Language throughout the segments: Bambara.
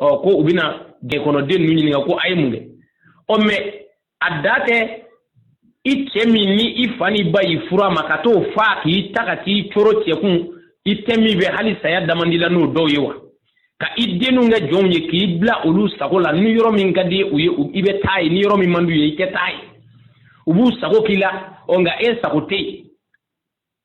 ɔ ko u bɛna jɛkɔnɔden ninnu ɲininka ko a ye mun kɛ ɔ mɛ a dan tɛ i cɛ min ni i fa ni ba y'i furu a ma ka t'o fa k'i ta ka t'i coro cɛ kun i tɛ min fɛ hali saya damandi la n'o dɔw ye wa ka i denw kɛ jɔnw ye k'i bila olu sago la ni yɔrɔ min ka di u ye i bɛ taa ye ni yɔrɔ min man d'u ye i tɛ taa ye u b'u sago k'i la ɔ nka e sago tɛ yen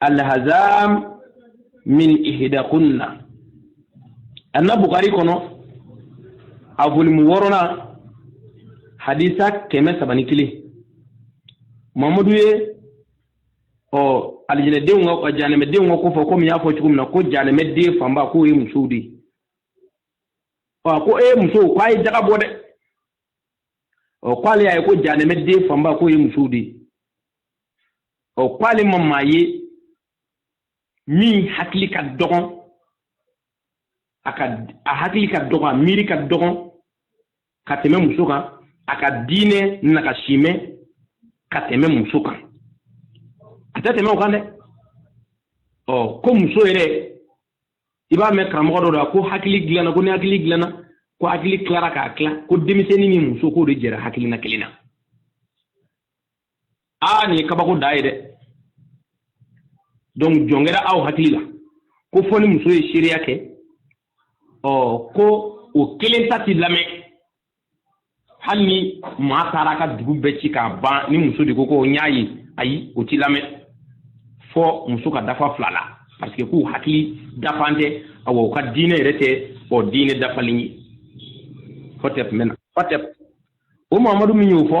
alhazam min ihdakunna an na bukari kɔnɔ a volumu wɔɔrɔnan hadisa kɛmɛ saba ni kelen mamadu ye ɔ alijinɛdenw ka janɛmɛdenw ka ko fɔ komi n y'a fɔ cogo min na ko janɛmɛden fanba k'o ye musow de ye ɔ ko ee musow k'a ye jaka bɔ dɛ ɔ k'ale y'a ye ko janɛmɛden fanba k'o ye musow de ye ɔ k'ale ma maa ye min hakili ka dɔgɔn a ka a hakili ka dɔgɔn a miiri ka dɔgɔn ka tɛmɛ muso kan a ka diinɛ nagasimɛ ka tɛmɛ muso kan a tɛ tɛmɛ o kan dɛ ɔ ko muso yɛrɛ i b'a mɛn karamɔgɔ dɔ da ko hakili dilanna ko ni hakili dilanna ko hakili tilara k'a tila ko denmisɛnnin ni muso k'o de jɛra hakilina kelen na aa nin ye kabako dan ye dɛ donc jɔn kɛra aw hakili la ko fɔ ni muso ye seereya kɛ ɔ ko o kelen ta ti lamɛn hali ni maa taara ka dugu bɛɛ ci k'a ban ni muso de ko ko n y'a ye ayi o ti lamɛn fɔ muso ka dafa fila la parce que k'u hakili dafan tɛ awa u ka diinɛ yɛrɛ tɛ ɔ diinɛ dafalen ye hɔtɛp mɛna hɔtɛp o mamadu min y'o fɔ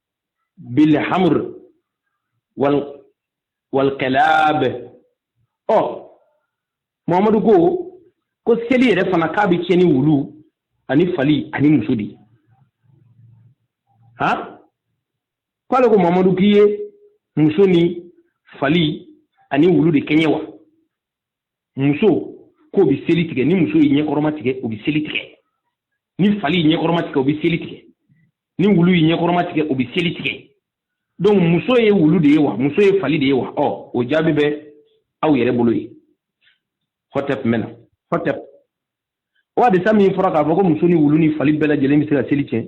bilhamr wal kilab ɔ muhammadu ko ko seli yɛrɛ fana k'a bɛ tiɲɛ ni wulu ani fali ani muso de han k'ale ko muhammadu k'i ye muso ni fali ani wulu de kɛɲɛ wa muso k'o bɛ seli tigɛ ni muso y'i ɲɛkɔrɔma tigɛ o bɛ seli tigɛ ni fali y'i ɲɛkɔrɔma tigɛ o bɛ seli tigɛ ni wulu y'i ɲɛkɔrɔma tigɛ o bɛ seli tigɛ donc muso ye wulu de ye wa muso ye fali de ye wa ɔ o jaabi bɛ aw yɛrɛ bolo yen hɔtɛp mɛna hɔtɛp o hadisa min fɔra k'a fɔ ko muso ni wulu ni fali bɛɛ lajɛlen bɛ se ka seli tiɲɛ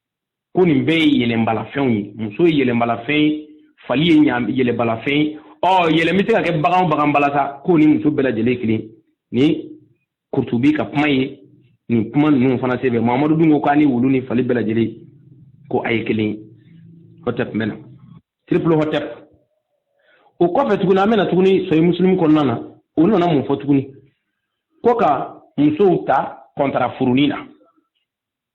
ko nin bɛɛ ye yɛlɛnbalafɛnw ye muso ye yɛlɛnbalafɛn ye fali ye yɛlɛnbalafɛn ye ɔ yɛlɛn bɛ se ka kɛ bagan bagan bala sa k'o ni muso bɛɛ lajɛlen kelen nin kurutubi ka kuma ye nin kuma ninnu fana sɛbɛn mamadu dun ko k'a ni wulu ni fali bɛɛ lajɛlen ko a ye kelen ye hɔtɛp mɛna triple hɔtɛp o kɔfɛ tuguni an bɛ na tuguni sɔyi musulumu kɔnɔna na o nana mun fɔ tuguni ko ka musow ta kɔntara furu nin na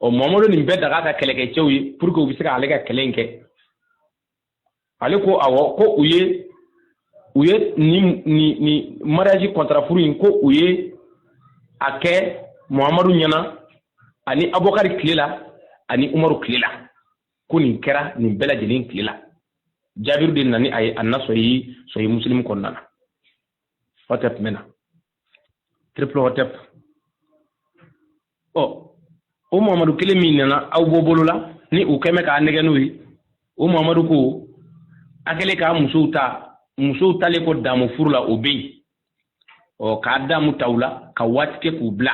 muhamadu nin bɛɛ daga a ka kɛlɛkɛcɛw ye pour que u bɛ se ka ale ka kɛlɛ in kɛ ale ko awɔ ko u ye u ye nin nin nin mariage contrat furu in ko u ye a kɛ muhamadu ɲɛna ani abubakari tile la ani umaru tile la ko nin kɛra nin bɛɛ lajɛlen tile la jabiru de nana ni a ye an na sɔyi sɔyi musilimu kɔnɔna na hɔtɛp mɛna triple hotep ɔ o muhamadu kelen min nana aw bɔ bɔlɔ la ni u kɛ mɛ k'a nɛgɛn n'o ye o muhamadu ko a kɛlen ka musow ta musow talen kɔ damu furu la o bɛ yen ɔ k'a damu ta u la ka waati kɛ k'u bila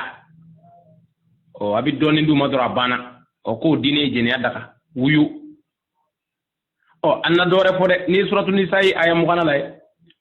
ɔ a bɛ dɔɔnin d'u ma dɔrɔn a banna ɔ k'o diinɛ ye jɛnɛya daga wuyu ɔ an na dɔwɛrɛ fɔ dɛ n'i ye suratu nisayi aya mugannan lajɛ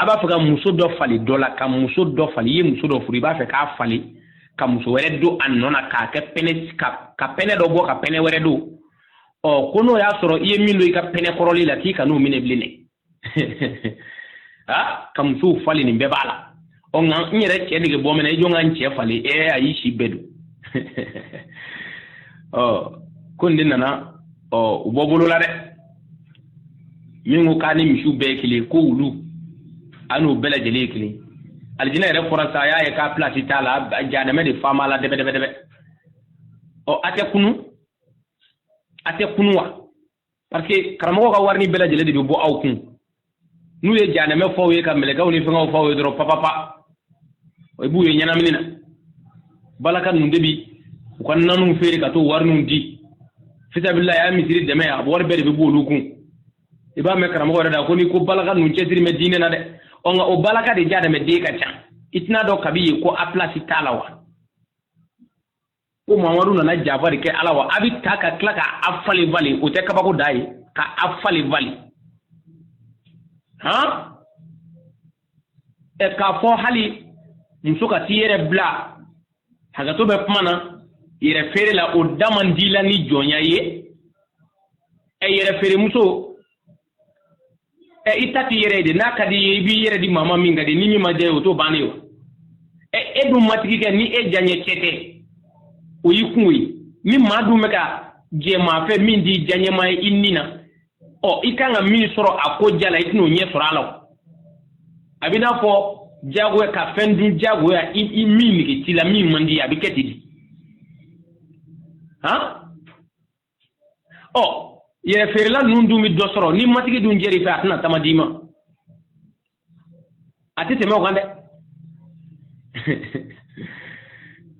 a b'a fɛ ka muso dɔ falen dɔ la ka muso dɔ falen i ye muso dɔ furu i b'a fɛ k'a falen ka muso wɛrɛ don a nɔ na k'a kɛ pɛnɛ ka ka pɛnɛ dɔ bɔ ka pɛnɛ wɛrɛ don ɔ ko n'o y'a sɔrɔ i ye min don i ka pɛnɛ kɔrɔlen la k'i kan'o minɛ bilen dɛ aa ka musow falen nin bɛɛ b'a la ɔ nka n yɛrɛ cɛ nege bɔ mɛ n na i jɔ n ka n cɛ falen ee ayi sɛbɛ don ɔ ko nin de nana ɔ u bɔ bɔlɔ la dɛ min ko k'a ni misiw bɛɛ ye kelen ko wulu a n'u bɛɛ lajɛlen ye kelen alijinɛ yɛrɛ fɔra sa a y'a ye k'a pilasi t'a la jahanamɛ de fa m'a la dɛbɛdɛbɛdɛbɛ ɔ a tɛ kunun a tɛ kunun wa parce que karamɔgɔ ka warini bɛɛ lajɛlen de bɛ bɔ aw kun n'u ye janɛmɛ fɔ aw ye ka mɛlɛkɛw ni fɛngɛw fɔ aw ye dɔrɔn papapa i b'u ye ɲɛnamini na balaka ninnu de bi u ka nanuw feere ka t'o wariniw di fisabila y'a misiri dɛmɛ a wari bɛɛ de bɛ bɔ olu kun i b'a mɛn karamɔgɔ yɛrɛ da ko ni ko balaka ninnu cɛsiri mɛ diinɛ na dɛ ɔ nka o balaka de janɛmɛ den ka ca i tɛn'a dɔn kabi ye ko a pilasi t'a la wa ko mamadu nana janfa de kɛ a la wa a bɛ ta ka tila ka a falenfalen o tɛ kabako da ye ka a falenfalen han ɛ k'a fɔ hali muso ka t'i yɛrɛ bila hakɛto bɛ kuma na yɛrɛfeere la o da man di la ni jɔnya ye ɛ yɛrɛfeeremuso ɛ i ta t'i yɛrɛ ye de n'a ka di ye i b'i yɛrɛ di maa ma min ka di ni min ma diya ye o t'o bannen ye wa ɛ e dun matigi kɛ ni e diyaɲɛ cɛ tɛ o y'i kunko ye ni maa dun bɛ ka jɛ maa fɛ min t'i diyaɲɛma ye i ni na ɔ i kan ka min sɔrɔ a ko diya la i tɛn'o ɲɛ sɔrɔ a la o a bɛ n'a fɔ diyagoya ka fɛn dun diyagoya i i min nege t'i la min man di ye a bɛ kɛ ten de han ɔ yɛrɛ feerela ninnu dun bɛ dɔ sɔrɔ ni matigi dun jɛr'i fɛ a tɛna tama d'i ma a tɛ tɛmɛ o kan dɛ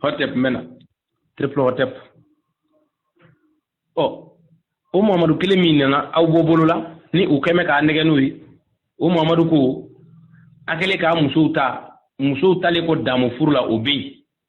hɔtɛp mɛna triple hɔtɛp ɔ o muhamadu kelen min nana aw bɔ bolo la ni u kɛ bɛ k'a nɛgɛn n'o ye o muhamadu ko a kɛlen k'a musow ta musow talen kɔ damu furu la o bɛ yen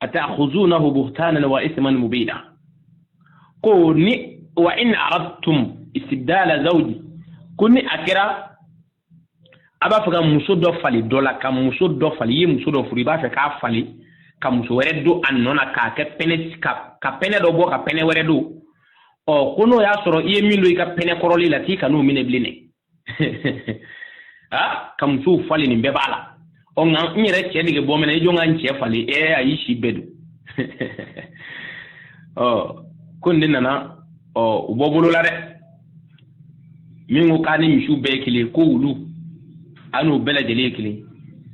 ata'khuzunahu buhtanan wa ithman mubina ko ni wa in aradtum istibdala zawji ko ni a kɛra a b'a fɛ ka muso dɔ falen dɔ la ka muso dɔ falen i ye muso dɔ furu i b'a fɛ k'a falen ka muso wɛrɛ don a nɔ na k'a kɛ pɛnɛ ka pɛnɛ dɔ bɔ ka pɛnɛ wɛrɛ don ɔ ko n'o y'a sɔrɔ i ye min don i ka pɛnɛ kɔrɔlen la k'i kan'o minɛ bilen dɛ ah, ka musow falen nin bɛɛ b'a la ɔ nka n yɛrɛ cɛ nege bɔ bɛ n na i jɔ n ka n cɛ falen ɛ eh, ayi si bɛɛ don ɔ oh, ko nin de nana ɔ oh, u bɔ bolo la dɛ min ko k'a ni misiw bɛɛ ye kelen ko wulu a n'u bɛɛ lajɛlen ye kelen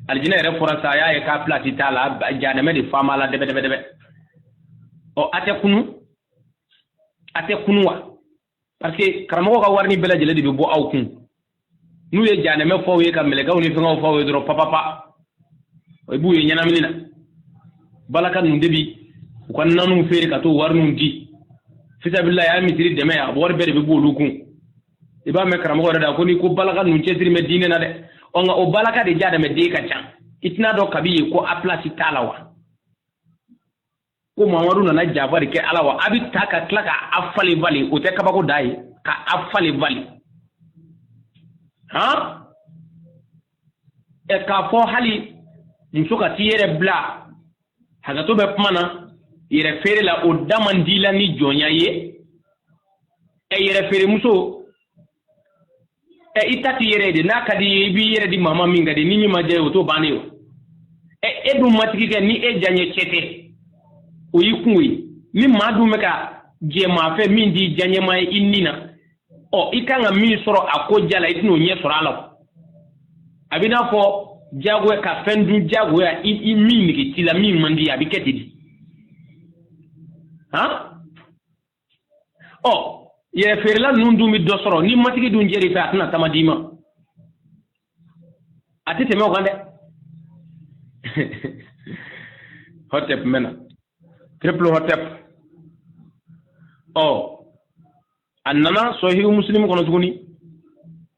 alijinɛ yɛrɛ fɔra sa a y'a ye k'a pilasi t'a la janɛmɛ de fa b'a la dɛbɛdɛbɛdɛbɛ ɔ a tɛ kunu a tɛ kunu wa parce que karamɔgɔ ka warini bɛɛ lajɛlen de bɛ bɔ aw kun n'u ye janɛmɛ f'aw ye ka mɛlɛkɛw ni fɛngɛw f'aw ye dɔrɔn papapa i b'u ye ɲɛnamini na balaka ninnu de bi u ka naniw feere ka t'o wariniw di fisabilahi a ye misiri dɛmɛ a wari bɛɛ de bɛ b'olu kun i b'a mɛn karamɔgɔ yɛrɛ da kɔni ko balaka ninnu cɛsiri bɛ diinɛ na dɛ ɔ nka o balaka de janɛmɛ den ka ca i tɛn'a dɔn kabi yen ko a pilasi t'a la wa ko mamadu nana jaba de kɛ a la wa a bɛ ta ka tila ka a falen bali o tɛ kabako da ye ka a falen bali han ɛ e k'a fɔ hali muso ka t'i yɛrɛ bila hakɛto bɛ kuma na yɛrɛ feere la o da man di la ni jɔnya ye ɛ e yɛrɛ feeremuso ɛ i ta t'i yɛrɛ ye de n'a ka di ye i b'i yɛrɛ di maa ma min ka di ni min ma diya ye o t'o bannen o ɛ e dun matigi kɛ ni e diyaɲɛ cɛ tɛ o y'i kunko ye ni maa dun bɛ ka jɛ maa fɛ min t'i diyaɲɛma ye i ni na ɔ i kan ka min sɔrɔ a ko diya la i tɛn'o ɲɛ sɔrɔ a la a bɛ n'a fɔ diyagoya ka fɛn dun diyagoya i i min nege t'i la min man di a bɛ kɛ ten de han ɔ yɛrɛfeerela ninnu dun bɛ dɔ sɔrɔ ni matigi dun jɛr'i fɛ a tɛna tama d'i ma a tɛ tɛmɛ o kan dɛ hɔtɛp mɛna triple hɔtɛp ɔ a nana sɔhihu musilimu kɔnɔ tuguni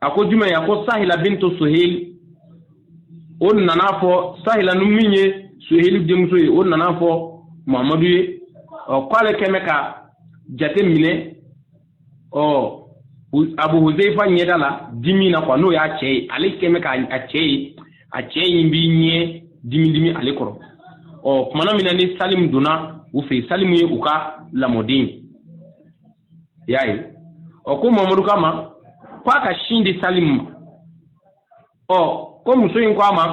a ko jumɛn ye a ko sahila bintu suhili o nana fɔ sahila ni min ye suhili denmuso ye o nana fɔ muhamadu ye ɔ k'ale kɛmɛ ka jate minɛ ɔ abu huzaifa ɲɛda la dimi na quoi n'o y'a cɛ ye ale kɛmɛ ka a cɛ ye a cɛ in b'i ɲɛ dimi dimi ale kɔrɔ ɔ tumana min na ni salimu donna u fɛ yen salimu ye u ka lamɔden ye i y'a ye ɔ ko mamadu k'a ma ko a ka sin di salimu ma ɔ ko muso in ko a ma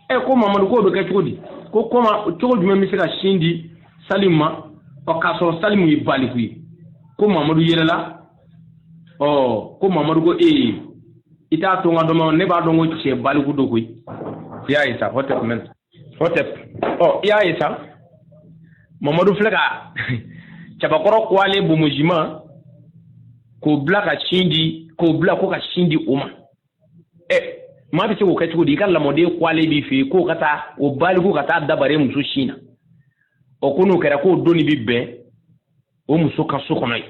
ɛ ko mamadu k'o bɛ kɛ cogo di ko comment cogo jumɛn n bɛ se ka sin di salimu ma ɔ k'a sɔrɔ salimu ye baliku ye ko mamadu yɛlɛla ɔ ko mamadu ko ee i t'a to n k'a dɔn ne b'a dɔn ko cɛ baliku don koyi i y'a ye sa hɔtɛp mɛna hɔtɛp ɔ i y'a ye sa mamadu filɛ ka cɛbakɔrɔ kuwalen bonbonsima k'o bila ka sin di k'o bila ko ka sin di o ma ɛ maa bɛ se k'o kɛ cogo di i ka lamɔden kuwalen b'i fɛ yen k'o ka taa o baliku ka taa da bari muso sin na ɔ ko n'o kɛra k'o donni bɛ bɛn o muso ka so kɔnɔ yen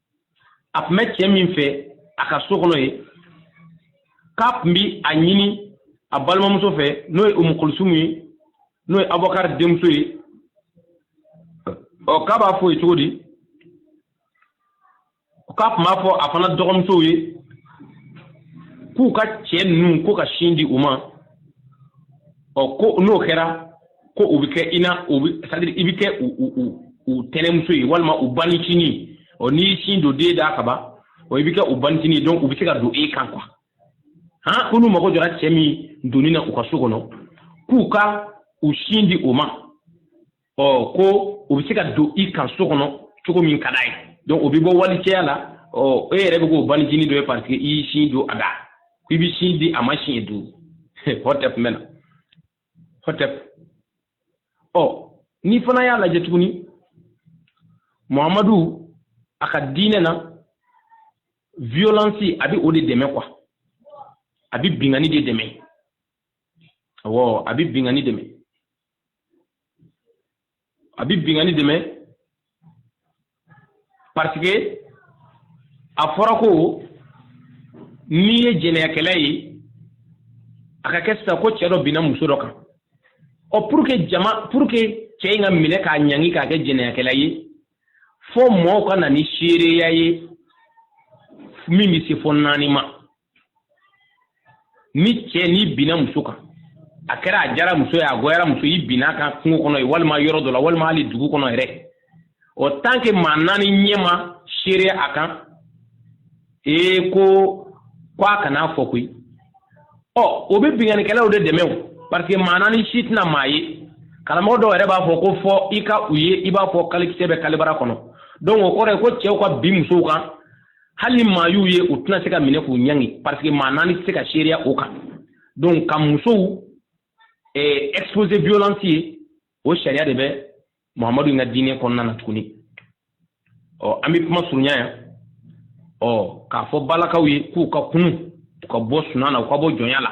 a tun bɛ cɛ min fɛ a ka so kɔnɔ yen k'a tun bɛ a ɲini a balimamuso fɛ n'o ye umu kulusum ye n'o ye abubakari denmuso ye ɔ k'a b'a fɔ ye cogo di k'a tun b'a fɔ a fana dɔgɔmusow ye k'u ka cɛ ninnu ko ka sin di u ma ɔ ko n'o kɛra ko u bɛ kɛ i na u bɛ c'est à dire i bɛ kɛ u u u u tɛnɛmuso ye walima u banicinin ɔ n'i y'i sin don den da ka ban ɔ i bɛ kɛ u banicinin ye donc u bɛ se ka don e kan quoi han ko n'u mago jɔra cɛ min donni na u ka so kɔnɔ k'u ka u sin di o ma ɔ ko u bɛ se ka don i kan so kɔnɔ cogo min ka d'a ye donc o bɛ bɔ walicɛya la ɔ e yɛrɛ bɛ k'o banicinin dɔ ye parce que i y'i sin don a da ko i bɛ sin di a ma siɲɛ duuru hɔtɛp mɛna hɔtɛp ɔ nin fana y'a lajɛ tuguni muhamadu a ka diinɛ na violence a bɛ o de dɛmɛ quoi a bɛ binkanni de dɛmɛ awɔ a bɛ binkanni dɛmɛ a bɛ bingani dɛmɛ parce que a fɔra ko n'i ye jɛnɛyakɛla ye a ka kɛ sisan ko cɛ dɔ binna muso dɔ kan ɔ pour que jama pour que cɛ in ka minɛ k'a ɲangi k'a kɛ jɛnɛyakɛla ye fo mɔɔw ka na ni seereya ye min bɛ se fo naani ma ni cɛ nin binna muso kan a kɛra a jara muso ye a goyara muso ye i binna a kan kungo kɔnɔ ye walima yɔrɔ dɔ la walima hali dugu kɔnɔ yɛrɛ o tant que maa naani ɲɛ ma seereya a kan ee ko ko a kana fɔ koyi ɔ o bɛ binganikɛlaw de dɛmɛ o parce que maa naani si tɛna maa ye karamɔgɔ dɔw yɛrɛ b'a fɔ ko fo i ka u ye i b'a fɔ kalekisɛ bɛ kalebara kɔnɔ donc o kɔrɔ ye ko cɛw ka bin musow kan hali maa y'u ye u tɛna se ka minɛ k'u ɲangi parce que maa naani tɛ se ka seereya o kan donc ka musow exposer violence ye o sariya de bɛ muhamadu in ka diinɛ kɔnɔna na tuguni ɔ an bɛ kuma surunya yan ɔ k'a fɔ balakaw ye k'u ka kunu u ka bɔ sunan na u ka bɔ jɔnya la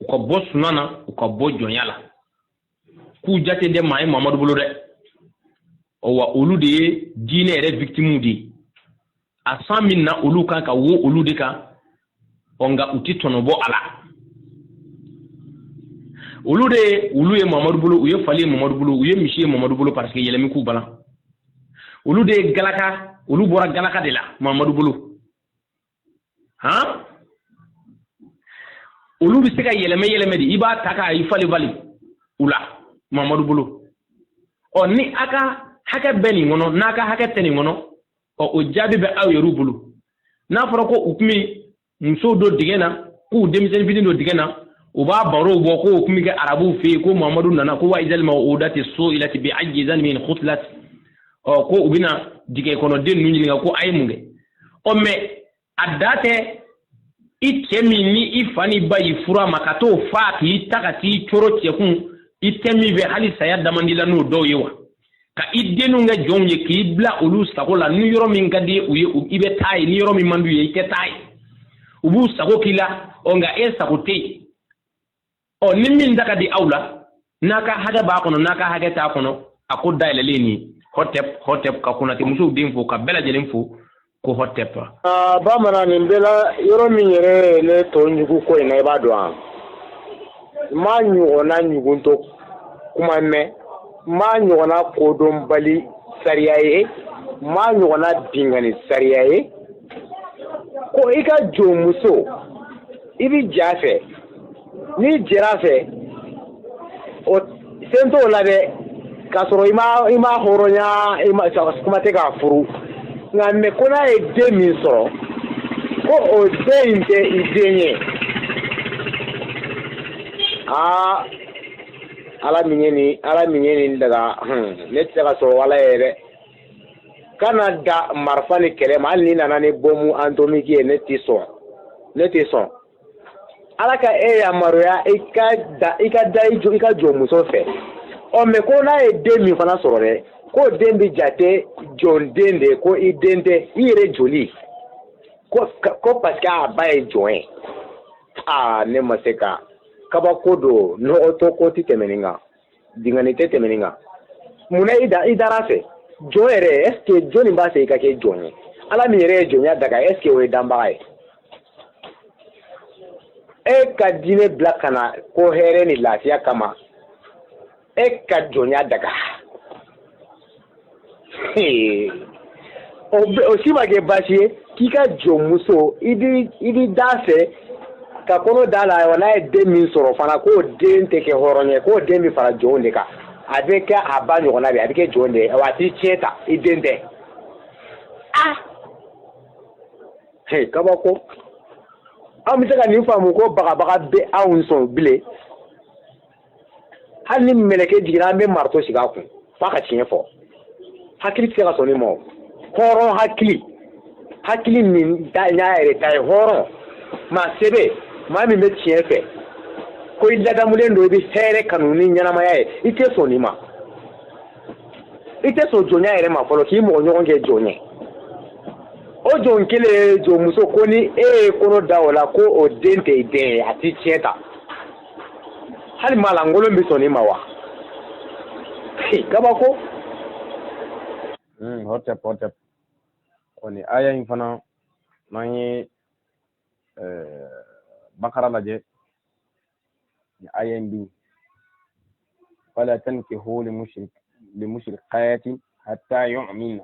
u ka bɔ sunan na u ka bɔ jɔnya la k'u jate tɛ maa ye mamadu bolo dɛ wa olu de ye diinɛ yɛrɛ victimew de ye a san min na olu kan ka wo olu de kan ɔ nka u tɛ tɔnɔ bɔ a la olu de ye olu ye mamadu bolo u ye fali ye mamadu bolo u ye misi ye mamadu bolo parce que yɛlɛmi k'u balan olu de ye galaka olu bɔra galaka de la mamadu bolo han olu bɛ se ka yɛlɛmɛ yɛlɛmɛ de i b'a ta k'a i fali fali u la mamadu bolo ɔ ni a ka hakɛ bɛ nin kɔnɔ n'a ka hakɛ tɛ nin kɔnɔ ɔ o jaabi bɛ aw yɛrɛw bolo n'a fɔra ko u tun bɛ musow don dingɛ na k'u denmisɛnnin fitini don dingɛ na u b'a barow bɔ k'o tun bɛ kɛ arabuw fɛ yen ko mamadu nana ko wa izal mawudatu su'ilati bi ayi zanbin kutilati ɔ ko u bɛna dingɛ kɔnɔ den ninnu ɲininka ko a ye mun kɛ ɔ mais a da tɛ i cɛ min ni i fa n'i ba y'i furu a ma ka t'o faa k'i ta ka t'i coro cɛ kun i tɛ min fɛ hali saya da man d'i la n'o dɔw ye wa ka i denw kɛ jɔnw ye k'i bila olu sago la ni yɔrɔ min ka di u ye i bɛ taa ye ni yɔrɔ min man d'u ye i tɛ taa ye u b'u sago k'i la ɔ nka e sago tɛ yen ɔ ni min da ka di aw la n'a ka hakɛ b'a kɔnɔ n'a ka hakɛ t'a kɔnɔ a ko dayɛlɛlen nin hɔtɛp hɔtɛp ka konate musow den fo ka bɛɛ lajɛlen fo ko hɔtɛp aa bamanan nin bɛɛ la yɔrɔ min yɛrɛ ne tɔ ɲugu ko in na i b'a dɔn an m'a ɲɔgɔnna ɲuguntɔ kuma mɛn m'a ɲɔgɔnna kodɔnbali sariya ye m'a ɲɔgɔnna bingani sariya ye ko i ka jɔnmuso i bɛ j'a fɛ n'i jɛr'a fɛ o sen t'o la dɛ k'a sɔrɔ i ma i m'a hɔrɔnya i ma kuma tɛ k'a furu nka mais ko n'a ye den min sɔrɔ ko o den in tɛ i den ye aa ala min ye nin ala min ye nin daga ne tɛ se ka sɔn o ala yɛrɛ kana da marifa ni kɛlɛ ma hali n'i nana ni bɔmu antomiki ye ne tɛ sɔn ne tɛ sɔn ala ka e yamaruya i ka da i ka da i jɔ i ka jɔnmuso fɛ ɔ mais ko n'a ye den min fana sɔrɔ dɛ k'o den bɛ jate jɔn den de ko i den tɛ i yɛrɛ joli ko ko parce que a ba ye jɔn ye aa ne ma se ka kabako don nɔgɔtɔ ko tɛ tɛmɛ nin kan dingani tɛ tɛmɛ nin kan mun na i da i dar'a fɛ jɔn yɛrɛ est ce que jɔni b'a fɛ i ka kɛ jɔn ye ala min yɛrɛ ye jɔnya daga est ce que o ye danbaga ye e ka diinɛ bila ka na ko hɛrɛ ni lafiya kama e ka jɔnya daga o si ma kɛ baasi ye k'i ka jɔnmuso i bɛ d'a fɛ ka kɔnɔ d'a la wa n'a ye den min sɔrɔ fana k'o den tɛ kɛ hɔrɔn ye k'o den bɛ fara jɔnw de kan a bɛ kɛ a ba ɲɔgɔn na bi a bɛ kɛ jɔn de ye a t'i tiɲɛ ta i den tɛ kabako an bɛ se ka nin faamu ko bagabaga bɛ anw sɔn bilen hali ni mɛlɛkɛ jiginna an bɛ marito sigi a kun f'a ka tiɲɛ fɔ hakili tɛ se ka sɔn nin ma o hɔrɔn hakili hakili min da n'a yɛrɛ ta ye hɔrɔn maa sɛbɛ maa min bɛ tiɲɛ fɛ ko i ladamulen don i bɛ hɛrɛ kanu ni ɲɛnamaya ye i tɛ sɔn nin ma i tɛ sɔn jɔnya yɛrɛ ma fɔlɔ k'i mɔgɔ ɲɔgɔn kɛ jɔn ye o jɔn kelen ye jɔnmuso ko ni e ye kɔnɔ da o la ko o den tɛ i den ye a t'i tiɲɛ ta hali maa lankolon bɛ sɔn nin ma wa kabako hmm, hɔtɛp hɔtɛp ko nin aya in fana n'an ye eh, bakara lajɛ nin aya in bi wala tankihu limushrikati hatta yu'minna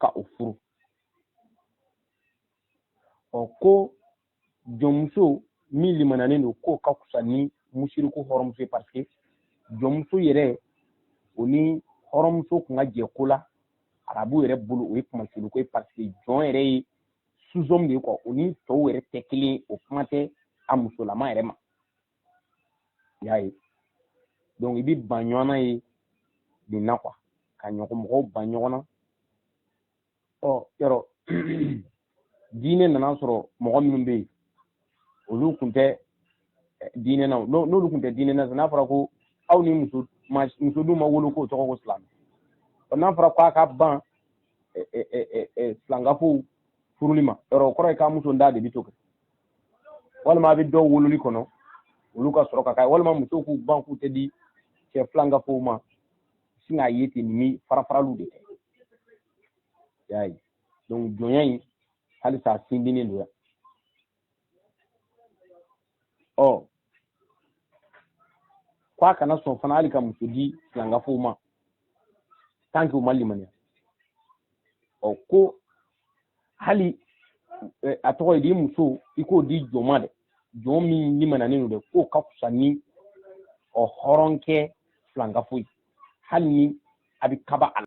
ka o furu ɔ ko jɔnmuso min limananen don k'o ka fisa ni musiriku hɔrɔnmuso ye parce que jɔnmuso yɛrɛ o ni hɔrɔnmuso kun ka jɛ ko la arabu yɛrɛ bolo o ye kunmasiriko ye parce que jɔn yɛrɛ ye sous-homme de ye quoi o ni tɔw yɛrɛ tɛ kelen o kuma tɛ a musolama yɛrɛ ma i y'a ye donc i bɛ ban ɲɔgɔn na ye nin na quoi ka ɲɔgɔn mɔgɔw ban ɲɔgɔn na ɔ yɔrɔ diinɛ nana sɔrɔ mɔgɔ minnu bɛ yen olu tun tɛ eh, diinɛ na n'olu tun tɛ diinɛ na n'a fɔra ko aw ni muso muso dun ma wolo k'o tɔgɔ ko silamɛ ɔ n'a fɔra ko a ka ban eh, eh, filankafow furuli ma yɔrɔ o kɔrɔ ye k'a muso da de bɛ to kɛ walima a bɛ dɔw wololi kɔnɔ olu ka sɔrɔ ka k'a walima musow k'u ban k'u tɛ di cɛ filankafow ma sin k'a ye ten ni farafaraliw de kɛ y'a ye donc jɔnya in halisa a sindinnen don yan ɔ ko a kana sɔn fana hali ka muso di filankafow ma tant que u ma limaniya ɔ ko hali eh, a tɔgɔ ye di muso i k'o di jɔn ma dɛ jɔn min limaniyanen don dɛ k'o ka fisa ni ɔ hɔrɔnkɛ filankafo ye hali ni a bɛ kaba a la